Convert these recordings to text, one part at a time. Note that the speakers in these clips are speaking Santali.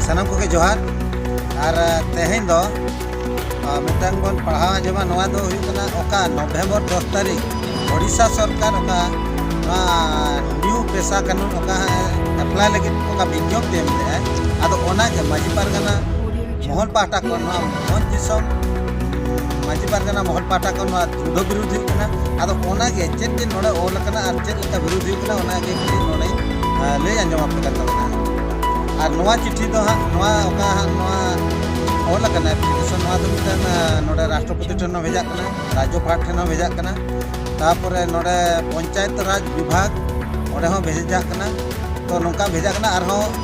ᱥᱟᱱᱟᱢ ᱠᱚᱜᱮ ᱡᱚᱦᱟᱨ ᱟᱨ ᱛᱮᱦᱮᱧ ᱫᱚ ᱢᱤᱫᱴᱟᱝ ᱵᱚᱱ ᱯᱟᱲᱦᱟᱣ ᱟᱸᱡᱚᱢᱟ ᱱᱚᱣᱟ ᱫᱚ ᱦᱩᱭᱩᱜ ᱠᱟᱱᱟ ᱚᱠᱟ ᱱᱚᱵᱷᱮᱢᱵᱚᱨ ᱫᱚᱥ ᱛᱟᱹᱨᱤᱠᱷ ᱳᱰᱤᱥᱟ ᱥᱚᱨᱠᱟᱨ ᱚᱠᱟ ᱱᱚᱣᱟ ᱱᱤᱭᱩ ᱯᱮᱥᱟ ᱠᱟᱹᱱᱩᱱ ᱚᱠᱟ ᱮᱯᱞᱟᱭ ᱞᱟᱹᱜᱤᱫ ᱚᱠᱟ ᱵᱤᱧᱡᱚᱵ ᱮᱢ ᱞᱮᱫᱼᱟ ᱟᱫᱚ ᱚᱱᱟᱜᱮ ᱢᱟᱹᱡᱷᱤ ᱯᱟᱨᱜᱟᱱᱟ ᱢᱚᱦᱚᱞ ᱯᱟᱦᱴᱟ ᱠᱷᱚᱱ ᱱᱚᱣᱟ ᱢᱚᱦᱚᱞ ᱫᱤᱥᱚᱢ ᱢᱟᱹᱡᱷᱤ ᱯᱟᱨᱜᱟᱱᱟ ᱢᱚᱦᱚᱞ ᱯᱟᱦᱴᱟ ᱠᱷᱚᱱ ᱱᱚᱣᱟ ᱫᱚ ᱵᱤᱨᱩᱫᱷ ᱦᱩᱭᱩᱜ ᱠᱟᱱᱟ ᱟᱫᱚ ᱚᱱᱟᱜᱮ ᱪᱮᱫ ᱪᱮᱫ ᱱᱚᱰᱮ ᱚᱞ ᱟᱠᱟᱱᱟ ᱟᱨ ᱪᱮᱫ ᱞᱮᱠᱟ ᱵᱤᱨᱩᱫᱷ ᱦᱩᱭᱩᱜ ᱠᱟᱱᱟ ᱚᱱᱟᱜᱮ ᱱᱚᱰᱮ ᱞᱟᱹᱭ ᱟᱸᱡᱚᱢ ᱟᱯᱮ ᱠᱟᱱ ᱛᱟᱵᱚᱱᱟ ᱟᱨ ᱱᱚᱣᱟ ᱪᱤᱴᱷᱤ ᱫᱚ ᱦᱟᱸᱜ ᱱᱚᱣᱟ ᱚᱠᱟ ᱦᱟᱸᱜ ᱱᱚᱣᱟ ᱚᱞ ᱟᱠᱟᱱᱟ ᱮᱯᱞᱤᱠᱮᱥᱚᱱ ᱱᱚᱣᱟ ᱫᱚ ᱢᱤᱫᱴᱟᱝ ᱱᱚᱰᱮ ᱨᱟᱥᱴᱨᱚᱯᱚᱛᱤ ᱴᱷᱮᱱ ᱦᱚᱸ ᱵᱷᱮᱡᱟᱜ ᱠᱟᱱᱟ ᱨᱟᱡᱽᱡᱚ ᱯᱟᱦᱴ ᱴᱷᱮᱱ ᱦᱚᱸ ᱵᱷᱮᱡᱟᱜ ᱠᱟᱱᱟ ᱛᱟᱯᱚᱨᱮ ᱱᱚᱰᱮ ᱯᱚᱧᱪᱟᱭᱮᱛ ᱨᱟᱡᱽ ᱵᱤᱵᱷᱟᱜᱽ ᱚᱸᱰᱮ ᱦᱚᱸ ᱵᱷᱮᱡᱟᱜ ᱠᱟᱱᱟ ᱛᱚ ᱱᱚᱝᱠᱟ ᱵᱷᱮᱡᱟᱜ ᱠᱟᱱᱟ ᱟᱨᱦᱚᱸ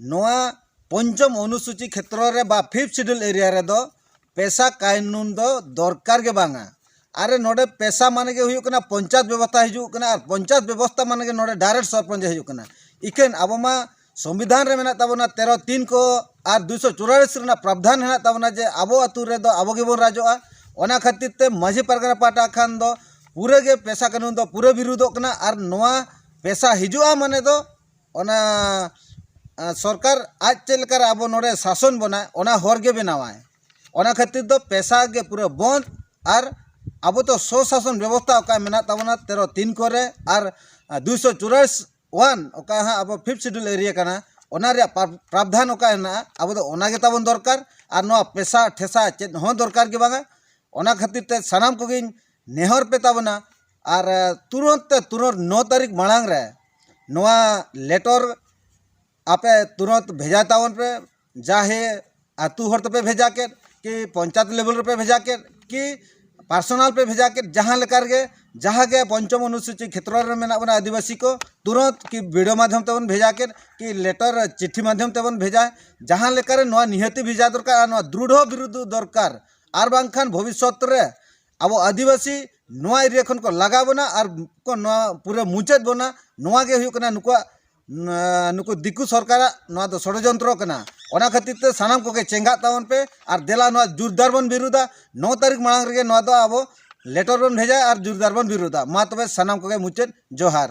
ᱱᱚᱣᱟ ᱯᱚᱧᱪᱚᱢ ᱚᱱᱩᱥᱩᱪᱤ ᱠᱷᱮᱛᱨᱚ ᱨᱮ ᱵᱟ ᱯᱷᱤᱯᱷᱛᱷ ᱥᱤᱰᱩᱞ ᱮᱨᱤᱭᱟ ᱨᱮᱫᱚ ᱯᱮᱥᱟ ᱠᱟᱭᱱᱩᱱ ᱫᱚ ᱫᱚᱨᱠᱟᱨ ᱜᱮ ᱵᱟᱝᱟ ᱟᱨ ᱱᱚᱰᱮ ᱯᱮᱥᱟ ᱢᱟᱱᱮ ᱜᱮ ᱦᱩᱭᱩᱜ ᱠᱟᱱᱟ ᱯᱚᱧᱪᱟᱭᱮᱛ ᱵᱮᱵᱚᱥᱛᱟ ᱦᱤᱡᱩᱜ ᱠᱟᱱᱟ ᱟᱨ ᱯᱚᱧᱪᱟᱭᱮᱛ ᱵᱮᱵᱚᱥᱛᱟ ᱢᱟᱱᱮ ᱜᱮ ᱱᱚᱰᱮ ᱰᱟᱭᱨᱮᱠᱴ ᱥᱚᱨᱯᱚᱧᱪ ᱦᱤᱡᱩᱜ ᱠᱟᱱᱟ ᱤᱠᱷᱟᱹᱱ ᱟᱵᱚ ᱢᱟ ᱥᱚᱝᱵᱤᱫᱷᱟᱱ ᱨᱮ ᱢᱮᱱᱟᱜ ᱛᱟᱵᱚᱱᱟ ᱛᱮᱨᱚ ᱛᱤᱱ ᱠᱚ ᱟᱨ ᱫᱩᱭᱥᱚ ᱪᱩᱨᱟᱞᱤᱥ ᱨᱮᱱᱟᱜ ᱯᱨᱟᱵᱫᱷᱟᱱ ᱦᱮᱱᱟᱜ ᱛᱟᱵᱚᱱᱟ ᱡᱮ ᱟᱵᱚ ᱟᱛᱳ ᱨᱮᱫᱚ ᱟᱵᱚ ᱜᱮᱵᱚᱱ ᱨᱟᱡᱚᱜᱼᱟ ᱚᱱᱟ ᱠᱷᱟᱹᱛᱤᱨ ᱛᱮ ᱢᱟᱹᱡᱷᱤ ᱯᱟᱨᱜᱟᱱᱟ ᱯᱟᱦᱴᱟ ᱠᱷᱚᱱ ᱫᱚ ᱯᱩᱨᱟᱹ ᱜᱮ ᱯᱮᱥᱟ ᱠᱟᱹᱱᱩᱱ ᱫᱚ ᱯᱩᱨᱟᱹ ᱵᱤᱨᱩᱫᱷᱚᱜ ᱠᱟᱱᱟ ᱟᱨ ᱱᱚᱣᱟ ᱯᱮᱥᱟ ᱦᱤᱡᱩᱜᱼᱟ ᱢᱟᱱᱮ ᱫᱚ ᱚᱱᱟ ᱥᱚᱨᱠᱟᱨ ᱟᱡ ᱪᱮᱫ ᱞᱮᱠᱟᱨᱮ ᱟᱵᱚ ᱱᱚᱰᱮ ᱥᱟᱥᱚᱱ ᱵᱚᱱᱟᱭ ᱚᱱᱟ ᱦᱚᱨ ᱜᱮ ᱵᱮᱱᱟᱣᱟᱭ ᱚᱱᱟ ᱠᱷᱟᱹᱛᱤᱨ ᱫᱚ ᱯᱮᱥᱟ ᱜᱮ ᱯᱩᱨᱟᱹ ᱵᱚᱸᱫᱽ ᱟᱨ ᱟᱵᱚ ᱫᱚ ᱥᱚ ᱥᱟᱥᱚᱱ ᱵᱮᱵᱚᱥᱛᱟ ᱚᱠᱟ ᱢᱮᱱᱟᱜ ᱛᱟᱵᱚᱱᱟ ᱛᱮᱨᱚ ᱛᱤᱱ ᱠᱚᱨᱮ ᱟᱨ ᱫᱩᱭᱥᱚ ᱪᱩᱨᱟᱥᱤ ᱚᱣᱟᱱ ᱚᱠᱟ ᱦᱟᱸᱜ ᱟᱵᱚ ᱯᱷᱤᱯᱛᱷ ᱥᱤᱰᱩᱞ ᱮᱨᱤᱭᱟ ᱠᱟᱱᱟ ᱚᱱᱟ ᱨᱮᱭᱟᱜ ᱯᱨᱟᱵᱽᱫᱷᱟᱱ ᱚᱠᱟ ᱦᱮᱱᱟᱜᱼᱟ ᱟᱵᱚ ᱫᱚ ᱚᱱᱟ ᱜᱮ ᱛᱟᱵᱚᱱ ᱫᱚᱨᱠᱟᱨ ᱟᱨ ᱱᱚᱣᱟ ᱯᱮᱥᱟ ᱴᱷᱮᱥᱟ ᱪᱮᱫ ᱦᱚᱸ ᱫᱚᱨᱠᱟᱨ ᱜᱮ ᱵᱟᱝᱟ ᱚᱱᱟ ᱠᱷᱟᱹᱛᱤᱨ ᱛᱮ ᱥᱟᱱᱟᱢ ᱠᱚᱜᱮᱧ ᱱᱮᱦᱚᱨ ᱯᱮ ᱛᱟᱵᱚᱱᱟ ᱟᱨ ᱛᱩᱨᱟᱹᱛ ᱛᱮ ᱛᱩᱨᱟᱹᱛ ᱱᱚ ᱛᱟᱹᱨᱤᱠᱷ ᱢᱟᱲᱟᱝ ᱨᱮ ᱱᱚᱣᱟ ᱞᱮᱴᱚᱨ ᱟᱯᱮ ᱛᱩᱨᱟᱹᱛ ᱵᱷᱮᱡᱟᱭ ᱛᱟᱵᱚᱱ ᱯᱮ ᱡᱟᱦᱮ ᱟᱹᱛᱩ ᱦᱚᱲ ᱛᱮᱯᱮ ᱵᱷᱮᱡᱟ ᱠᱮᱫ ᱠᱤ ᱯᱚᱧᱪᱟᱭᱮᱛ ᱞᱮᱵᱮᱞ ᱨᱮᱯᱮ ᱵᱷᱮᱡᱟ ᱠᱮᱫ ᱠᱤ ᱯᱟᱨᱥᱚᱱᱟᱞ ᱯᱮ ᱵᱷᱮᱡᱟ ᱠᱮᱫ ᱡᱟᱦᱟᱸ ᱞᱮᱠᱟ ᱨᱮᱜᱮ ᱡᱟᱦᱟᱸ ᱜᱮ ᱯᱚᱧᱪᱚᱢ ᱚᱱᱩᱥᱩᱪᱤ ᱠᱷᱮᱛᱨᱚ ᱨᱮ ᱢᱮᱱᱟᱜ ᱵᱚᱱᱟ ᱟᱹᱫᱤᱵᱟᱹᱥᱤ ᱠᱚ ᱛᱩᱨᱟᱹᱛ ᱠᱤ ᱵᱷᱤᱰᱤᱭᱳ ᱢᱟᱫᱽᱫᱷᱚᱢ ᱛᱮᱵᱚᱱ ᱵᱷᱮᱡᱟ ᱠᱮᱫ ᱠᱤ ᱞᱮᱴᱚᱨ ᱪᱤᱴᱷᱤ ᱢᱟᱫᱽᱫᱷᱚᱢ ᱛᱮᱵᱚᱱ ᱵᱷᱮᱡᱟ ᱡᱟᱦᱟᱸ ᱞᱮᱠᱟᱨᱮ ᱱᱚᱣᱟ ᱱᱤᱦᱟᱹᱛ ᱵᱷᱮᱡᱟ ᱫᱚᱨᱠᱟᱨ ᱟᱨ ᱱᱚᱣᱟ ᱫᱨᱩᱰᱷᱚ ᱵᱤᱨᱩᱫᱷ ᱫᱚᱨᱠᱟᱨ ᱟᱨ ᱵᱟᱝᱠᱷᱟᱱ ᱵᱷᱚᱵᱤᱥᱥᱚᱛ ᱨᱮ ᱟᱵᱚ ᱟᱹᱫᱤᱵᱟᱹᱥᱤ ᱱᱚᱣᱟ ᱮᱨᱤᱭᱟ ᱠᱷᱚᱱ ᱠᱚ ᱞᱟᱜᱟ ᱵᱚᱱᱟ ᱟᱨ ᱠᱚ ᱱᱚᱣᱟ ᱯᱩᱨᱟᱹ ᱢᱩᱪᱟᱹᱫ ᱵᱚᱱᱟ ᱱᱚᱣᱟ ᱜᱮ ᱦᱩᱭᱩᱜ ᱠᱟᱱᱟ ᱱᱩᱠᱩᱣᱟᱜ ᱱᱩᱠᱩ ᱫᱤᱠᱩ ᱥᱚᱨᱠᱟᱨᱟᱜ ᱱᱚᱣᱟ ᱫᱚ ᱥᱚᱲᱚᱡᱚᱱᱛᱨᱚ ᱠᱟᱱᱟ ᱚᱱᱟ ᱠᱷᱟᱹᱛᱤᱨ ᱛᱮ ᱥᱟᱱᱟᱢ ᱠᱚᱜᱮ ᱪᱮᱸᱜᱷᱟᱜ ᱛᱟᱵᱚᱱ ᱯᱮ ᱟᱨ ᱫᱮᱞᱟ ᱱᱚᱣᱟ ᱡᱳᱨᱫᱟᱨ ᱵᱚᱱ ᱵᱤᱨᱩᱫᱟ ᱱᱚ ᱛᱟᱹᱨᱤᱠᱷ ᱢᱟᱲᱟᱝ ᱨᱮᱜᱮ ᱱᱚᱣᱟ ᱫᱚ ᱟᱵᱚ ᱞᱮᱴᱚᱨ ᱵᱚᱱ ᱵᱷᱮᱡᱟᱭᱟ ᱟᱨ ᱡᱳᱨᱫᱟᱨ ᱵᱚᱱ ᱵᱤᱨᱩᱫᱟ ᱢᱟ ᱛᱚᱵᱮ ᱥᱟᱱᱟᱢ ᱠᱚᱜᱮ ᱢᱩᱪᱟᱹᱫ ᱡᱚᱦᱟᱨ